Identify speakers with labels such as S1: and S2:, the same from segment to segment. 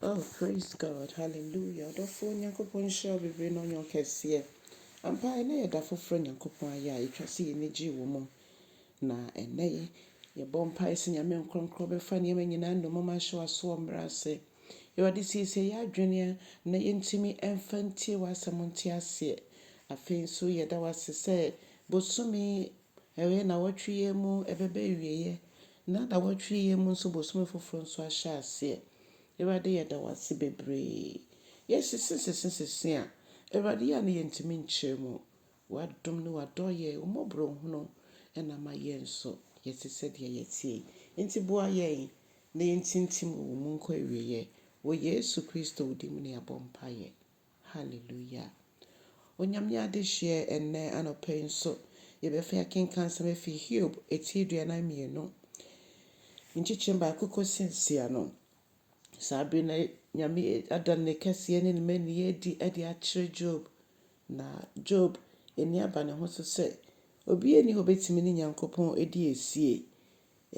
S1: Oh praise God hallelujah ɔdɔfoɔ Nyankopɔn nhyira wo bebree na ɔnyɛ wo kɛseɛ ampa ɛnɛ yɛ da foforɔ a Nyankopɔn ayɛ a ɛtwa sɛ yɛni gye wɔ mu na ɛnɛ yi yɛbɔ mpae sɛ Nyame nkorɔnkorɔ bɛfa nneɛma nyinaa nnommum ahyɛ w'asoɔ mmrɛ ase Awurade siesie yɛ adwene a na yɛntumi ɛmfa ntie w'asɛm nte aseɛ afei nso yɛda w'ase sɛ bosome Ɛwɛɛ nnawɔtwe yɛ mu ɛbɛba awieɛ na nnawɔtwe yɛ mu nso bosome foforɔ nso ahyɛ aseɛ. Awurade yɛda wo ase bebree. Yɛsese sese sese a, Awurade yɛ a na yɛntumi nkyerɛ mu. W'adom ne w'adɔeɛ, wo mmɔborɔhunu na ama yɛn nso yɛte sɛdeɛ yɛteɛ yi. Enti boa yɛn na yɛntintim wɔ wo mu nkɔ awieɛ. Wɔ Yesu Kristo wo din mu na yɛabɔ mpaeɛ. Hallelujah! Onyame adehyeɛ ɛnnɛ anɔpa yi nso yɛbɛfi akenkan nsɛm afi Hiob ti aduanan mmienu nkyekyem baako kɔsi nsia no. Saa bere no Nyame ada ne kɛseɛ ne ne mmanieɛ adi de akyerɛ Job, na Job ani aba ne ho so sɛ obiara nni hɔ bɛtumi ne Nyankopɔn adi asie.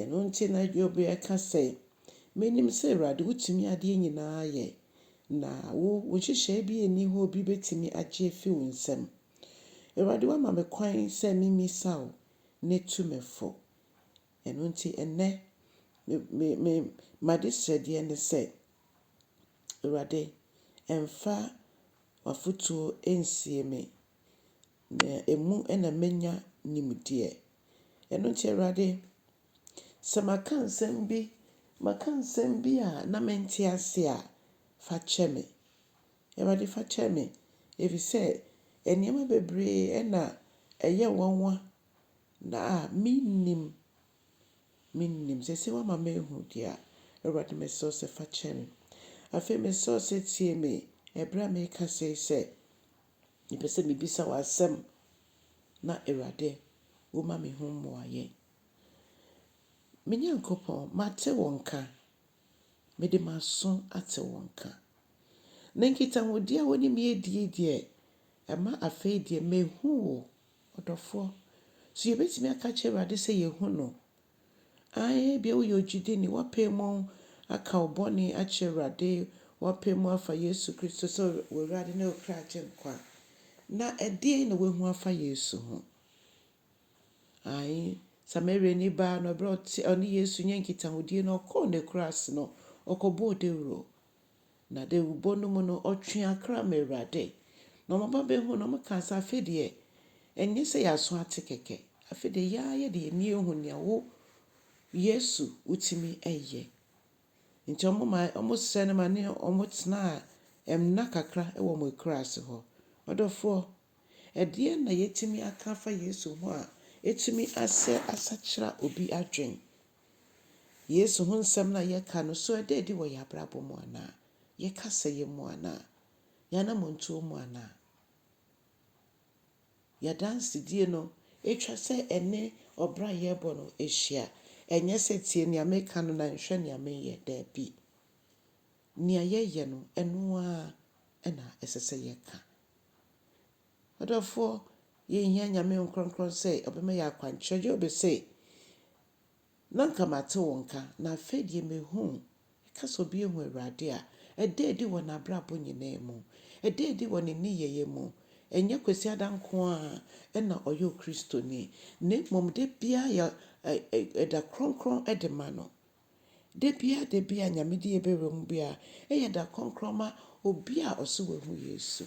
S1: Ɛno nti na Hiob reka sɛ, Minim sɛ Awurade wutumi adeɛ nyinaa yɛ, na wo, wo nhyehyɛe bi nni hɔ a obi betumi agye afi wo nsam. Awurade woama me kwan sɛ mimmisa wo, na tu me fo. Ɛno nti ɛnnɛ, me, me, me, m'adesrɛdeɛ ne sɛ, Awurade, mfa w'afotuo nsie me. Na emu na menya nimdeɛ. Ɛno nti, Awurade, sɛ maka nsɛm bi, maka nsɛm bi a na mente ase a, fa kyɛ me. Awurade, fa kyɛ me, ɛfiri sɛ nneɛma bebree na ɛyɛ nwanwa na a mennim, mennim. Seesei woama mahu deɛ a, Awurade, mesrɛ wo sɛ fa kyɛ me. Afei mesrɛ wo sɛ tie me ɛberɛ a merekasa yi sɛ. Mepɛ sɛ mebisa wo asɛm na Awurade wo ma me ho mmuaeɛ. Me Nyankopɔn, mate wo nka, mede m'aso ate wo nka. Na nkitahodie a wo ne me adi yi deɛ, ɛma afei deɛ mahu wo, ɔdɔfoɔ. So yɛbɛtumi aka akyerɛ Awurade sɛ yɛahu no? Aane, ebia woyɛ ogyidini, woapae mu aka wo bɔne akyerɛ Awurade, woapae mu afa Yesu Kristo sɛ w'Awurade ne wo kra Agyenkwa. Na ɛdeɛn na woahu afa Yesu ho? Aane, Samariani baa no, berɛ a ɔne Yesu nyɛɛ nkitahodie no, ɔkɔɔ n'akuraase no, ɔkɔbɔɔ dawuro. Na dawurbɔ no mu no, ɔtwee akra ma Awurade. Na wɔba bɛhuu no, wɔkaa sɛ, Afei deɛ, ɛnyɛ sɛ yɛaso ate kɛkɛ. Afei deɛ, yɛn ara yɛde yɛn ani ahu nea wo, Yesu, wotumi yɛ. Enti wɔmaa, wɔsrɛɛ no ma ne wɔtenaa nna kakra wɔ wɔn akuraase hɔ. Ɔdɔfoɔ, ɛdeɛn na yɛatumi aka afa Yesu ho a ɛtumi asɛ asakyera obi adwene Yesu ho nsɛm no a yɛka no, so ɛda adi wɔ yɛn abrabɔ mu anaa? Yɛn kasayɛ mu anaa? Yɛn anammɔntuo mu anaa? Yɛn adansedie no, ɛtwa sɛ ɛne ɔbra a yɛrebɔ no hyia. Ɛnyɛ sɛ tie nea meka no na nhwɛ nea mereyɛ, daabi. Nea yɛyɛ no, ɛno ara na ɛsɛ sɛ yɛka. M'adɔfoɔ, yɛnhia Nyame Nkorɔnkorɔn sɛ ɔbɛma yɛ akwankyerɛ. Job se, Na anka mate wo nka, na afei deɛ mehu wo. Yɛka sɛ obi ahu Awurade a, ɛda adi wɔ n'abrabɔ nyinaa mu. Ɛda adi wɔ ne nneyɛeɛ mu. Ɛnyɛ Kwasiada nko ara na ɔyɛ Okristoni, na mmom da biara yɛ ɛda krɔnkrɔn de ma no. Da biara da biara a Nyame de yɛ bɛwura mu biara yɛ da krɔnkrɔn ma obi a ɔse wahu Yesu.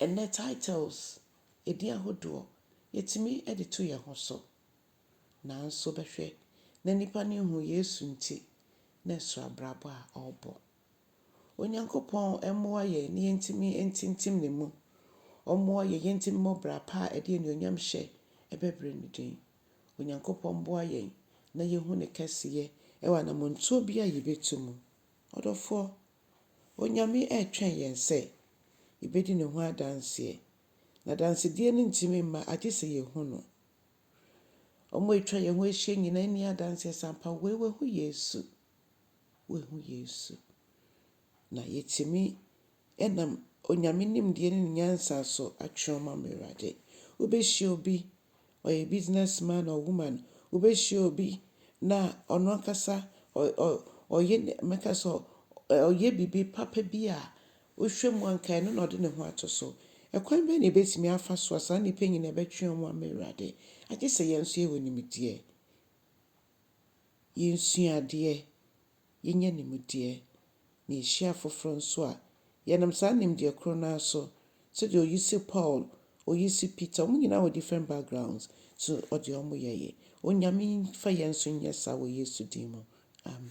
S1: Ɛnnɛ titles, edin ahodoɔ, yɛtumi de to yɛn ho so. Nanso bɛhwɛ na nnipa no nhunu Yesu nti na ɛso abrabɔ a ɔrebɔ. Onyankopɔn mmoa yɛn na yɛntumi ntintim ne mu. Ɔmmoa yɛn yɛntumi mmɔ bra pa a ɛde anuonyam hyɛ ɛbɛbrɛ ne din. Onyankopɔn mmoa yɛn na yɛhu ne kɛseyɛ wɔ anammɔntuo biara a yɛbɛtu mu. Ɔdɔfoɔ, Onyame ɛretwɛn yɛn sɛ yɛbɛdi Ne ho adanseɛ. N'adansedie no ntumi mma agye sɛ yɛhu No. Wɔn a atwa yɛn ho ahyia nyinaa nni adanseɛ sɛ ampa wei wahu Yesu, wahu Yesu. Na yɛtumi nam Onyame nimdeɛ ne Ne nyansa so atwerɛ ama Awurade. Wobɛhyia obi ɔyɛ business man or woman, wobɛhyia obi na ɔno ankasa ɔyɛ mɛka sɛ ɔyɛ biribi papa bi a, wohwɛ mu a nka ɛno na ɔde ne ho ato so. Ɛkwan bɛn na yɛbɛtumi afa so a saa nnipa nyinaa bɛtwe wɔn ama Awurade? Agye sɛ yɛn nso yɛwɔ nimdeɛ, yɛnsua adeɛ, yenya nimdeɛ, na yehyia afoforo nso a, yɛnam saa nimdeɛ koro no ara so, sɛdeɛ Oyisi Paul, Oyisi Peter, wɔn nyinaa wɔ different backgrounds, so ɔde wɔn yɛeɛ. Onyame mfa yɛn nso nyɛ saa wɔ Yesu din mu, amen.